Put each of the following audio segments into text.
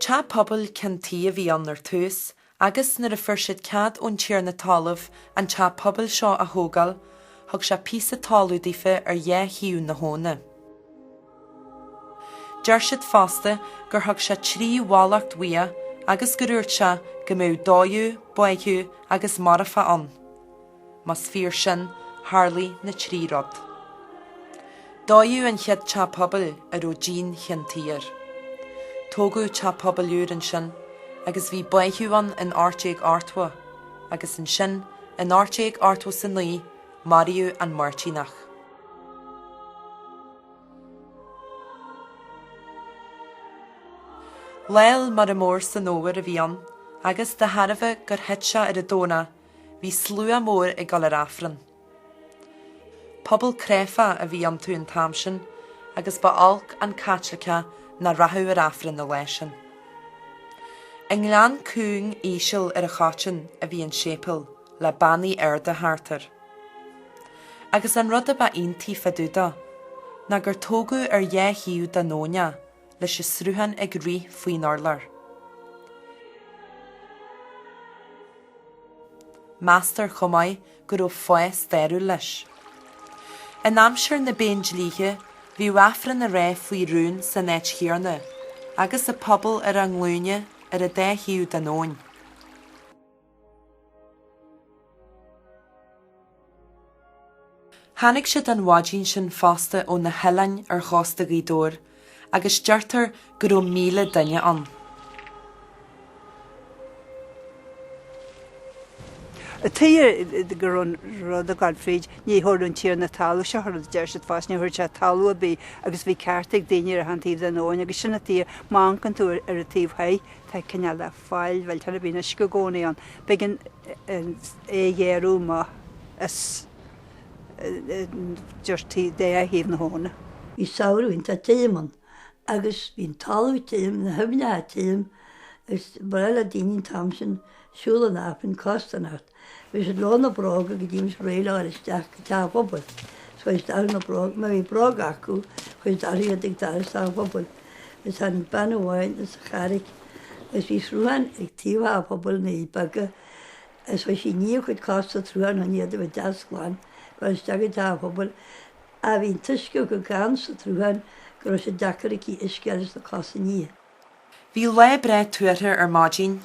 Teach pobail ceann tuí a bhí ann ar tús agus nuair a fuair siad cead ón tiarna talaimh an teach pobail seo a thógáil thug sé píosa talamh daofa ar dhá thaobh na habhna. Deir siad fosta gur thug sé trí mhallacht uaidh agus gur úirt sé go mbeadh dódh, báitheadh agus marfach ann. Más fíor sin, tharlaigh na trí rud. Dódh an chéad teach pobail a raibh díon cheann tuí air. Tógadh teach pobail úr ansin agus bhí báitheadh ann in ocht déag ochtó, agus ansin in ocht déag ochtó is a naoi, maraíodh an Máirtíneach. Lá Fhéile Muire Mór san fhómhar a bhí ann, agus de thairbhe gur thit sé ar an Domhnach, Bhí slua mór ag dul ar Aifreann. Pobal cráifeach a bhí iontu an t-am sin agus ba olc an Caitliceach nach rachadh ar Aifreann na laetha sin. I ngleann cúng íseal ar an Choiteann a bhí an séipéal le beannaí arda thart air. Agus an rud a ba iontaí fá dtaobh de ná gur tógadh ar dhá thaobh den abhainn é. leis an sruthán ag rith faoin urlár. Meastar chomh maith go raibh fáth stairiúil leis. In aimsir na bPéindlíthe bhíodh Aifreann á rá faoi rún san áit chéanna agus an pobal ar a nglúine ar an dá thaobh den abhainn. Tháinig siad an mhaidin sin fosta ó na hoileáin ar chósta Ghaoth Dobhair agus deirtear go raibh míle duine ann. An tuige go raibh an rud ag dul fríd, ní thabharfadh an tiarna talún seo rud, a deir siad fosta, ní thabharfadh sé talamh ar bith agus bhí cearta ag daoine ar achan taobh den abhainn agus sin an tuige, má amhancann tú ar an taobh thoir, tá cineál. faill, bhuel tar a bhíonn uisce i gcónaí ann, beidh an é a ghéarú má is dirty dá thaobh na habhna. Bhí samhradh iontach tirim ann agus bhí an talamh tirim, na haibhneacha tirim agus ba bhreá le daoine an t-am sin siúl chun Aifrinn costarnocht. Bhí siad leo na bróga go dtí go mbíodh siad réidh le dhul isteach go teach an phobail. Is chuir siad orthu na bróga. Má bhí bróga acu chuir siad orthu iad ag dul isteach an phobail. Agus tháinig bean amháin as an Charraic agus bhí sruthán ag taobh theach an phobail, na nDoirí Beaga, agus bhí sí ag ní a cuid cos sa tsruthán chun iad a bheith deas glan ag dul isteach go teach an phobail. Ach bhí an t-uisce chomh gann sa tsruthán go raibh sé deacair aici uisce a fháil leis na cosa a ní. Bhí lá breá tuartha ar maidin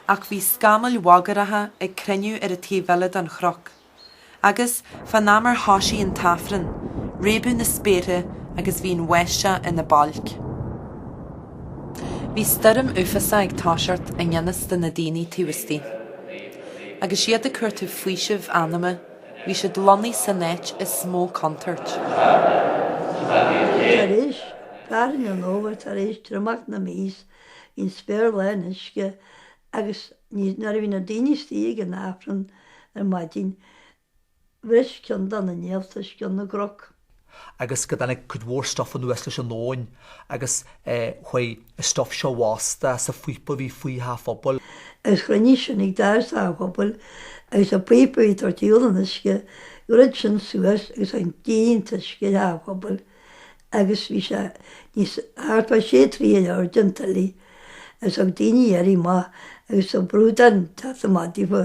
ach bhí scamaill bhagaireacha ag cruinniú ar an taobh eile den chnoc agus, fán am ar thoisigh an tAifreann, réabadh na spéartha agus bhí an bháisteach ina bailc. Bhí stoirm uafásach ag toiseacht i ngan fhios do na daoine taobh istigh. Agus iad ag cuartú faoiseamh anama, Bhí siad lonnaithe san áit is mó contúirt. Tar éis fearthainn an fhómhair, tar éis triomach na míosa, bhí an spéir lán uisce agus ní, nuair a bhí na daoine istigh ag an Aifreann ar maidin, bhris cionn de na néalta os cionn na gcnoc. agus go dtáinig cuid mhór stuif anuas leis an abhainn agus chuaigh an stuif seo i bhfostú sa phíopa a bhí faoi theach an phobail. Is chruinnigh sin ag doras theach an phobail agus an píopa a bhí ag tabhairt ar shiúl an uisce, dhruid sin suas agus líon an t-uisce teach an phobail agus bhí sé níos, thart fá sé troigh ar airde an tuile agus thug daoine iarraidh amach agus sa bhrúdán ag teacht amach daofa,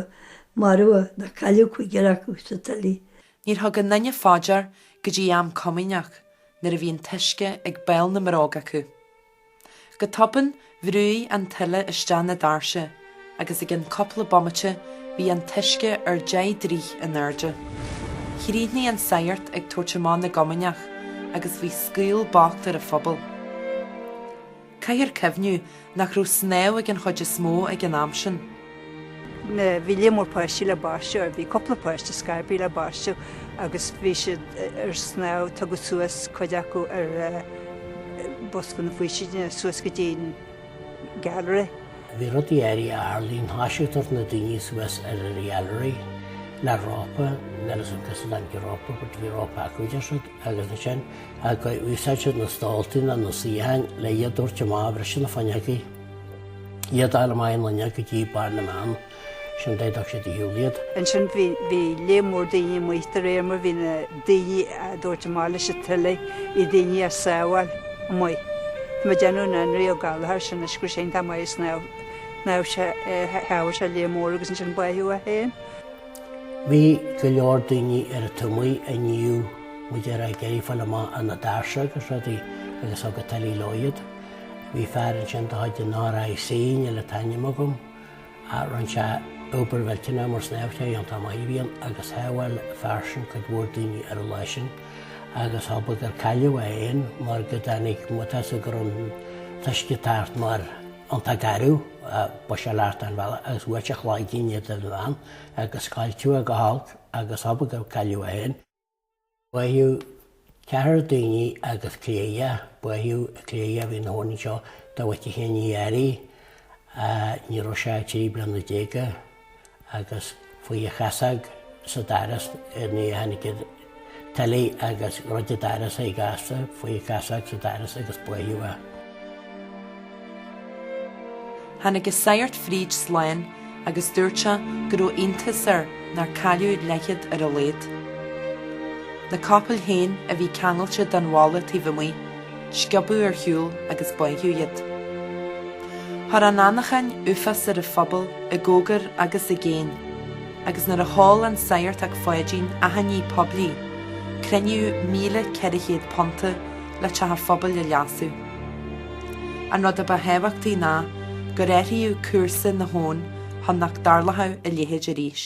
marbhadh nó cailleadh cúigear acu sa tuile. Níor thug aon duine fá dear go dtí am comaoineach nuair a bhí an t-uisce ag béal na mbróg acu. Go tobann bhrúigh an tuile isteach na doirse agus i gcionn cúpla bomaite bhí an t-uisce ar deich dtroigh in airde. Chríochnaigh an sagart ag tabhairt amach na gcomaoineach agus bhí scaoll bocht ar an phobal. Caithfear cuimhneamh nach raibh snámh ag an chuid is mó ag an am sin. Bhí líon mór páistí le baisteadh, bhí cúpla páiste ar scor ar bith le baisteadh agus bhí siad ar snámh, tugadh suas cuid acu ar bhosca na faoistine suas go dtí an gallery. Bhí rudaí áirithe a tharlaigh, toisíodh ag tabhairt na daoine suas ar an ghallery le rópa, níl a fhios agam cá as a dtáinig an rópa, but bhí rópa acu, deir siad. agus ansin gur úsáid siad na stóltaí nó na suíocháin le iad a thabhairt amach, bhris siad na fuinneogaí, iad ag dul amach ón fhuinneog go dtí barr na mbeann sin d'fhéadfadh siad a shiúl iad. Ansin bhí líon mór daoine amuigh de réir mar bhí na daoine á dtabhairt amach leis an tuile bhí daoine á sábháil amuigh. Tá mé ag déanamh an Anraí Ó Gallchóir sin go raibh sé iontach maith ag snámh, shábháil sé líon mór agus ansin báitheadh é féin. Bhí go leor daoine ar an taobh amuigh nó b'fhéidir ag iarraidh fáil amach ar na doirse agus rudaí agus thug an tuile leo iad. Bhí fear ansin de chuid an RIC, níl an t-ainm agam, ach rinne sé obair mhillteanach mar snámhóir iontach maith a bhí ann agus shábháil an fear sin cuid mhór daoine ar an lá sin agus thobair gur cailleadh é féin mar go dtáinig, má tá a fhios agat go raibh an t-uisce ag teacht mar. an t-agarú ba shia leat ar an bhalla agus bhuail a chloigeann in éadan an lann agus scoilteadh go holc agus hobair gur cailleadh é féin. Báitheadh ceathrar daoine agus cléireach, báitheadh cléireach a bhí na thóin seo, dá bhfaca féin í arí ní raibh sé trí bliana déag. agus chuaigh a chasóg sa daras nuair a tháinig an tuile agus dhruid an daras é gasta chuaigh a chasóg sa daras agus báitheadh é. Tháinig an sagart fríd slán agus dúirt sé go raibh iontas air nár cailleadh leathchéad ar a laghad. Na capaill féin a bhí ceangailte den bhalla taobh amuigh. Sciobadh ar shiúl agus báitheadh iad. Chuir an anachain uafás ar an phobal i gcóngar agus i gcéin, agus nuair a sheol an Sagart 'ac Pháidín achainí phoiblí, cruinníodh £1,400 le teach an phobail a leasú. An rud a ba thábhachtaí ná gur athraíodh cúrsa na habhann chun nach dtarlódh a leithéid arís.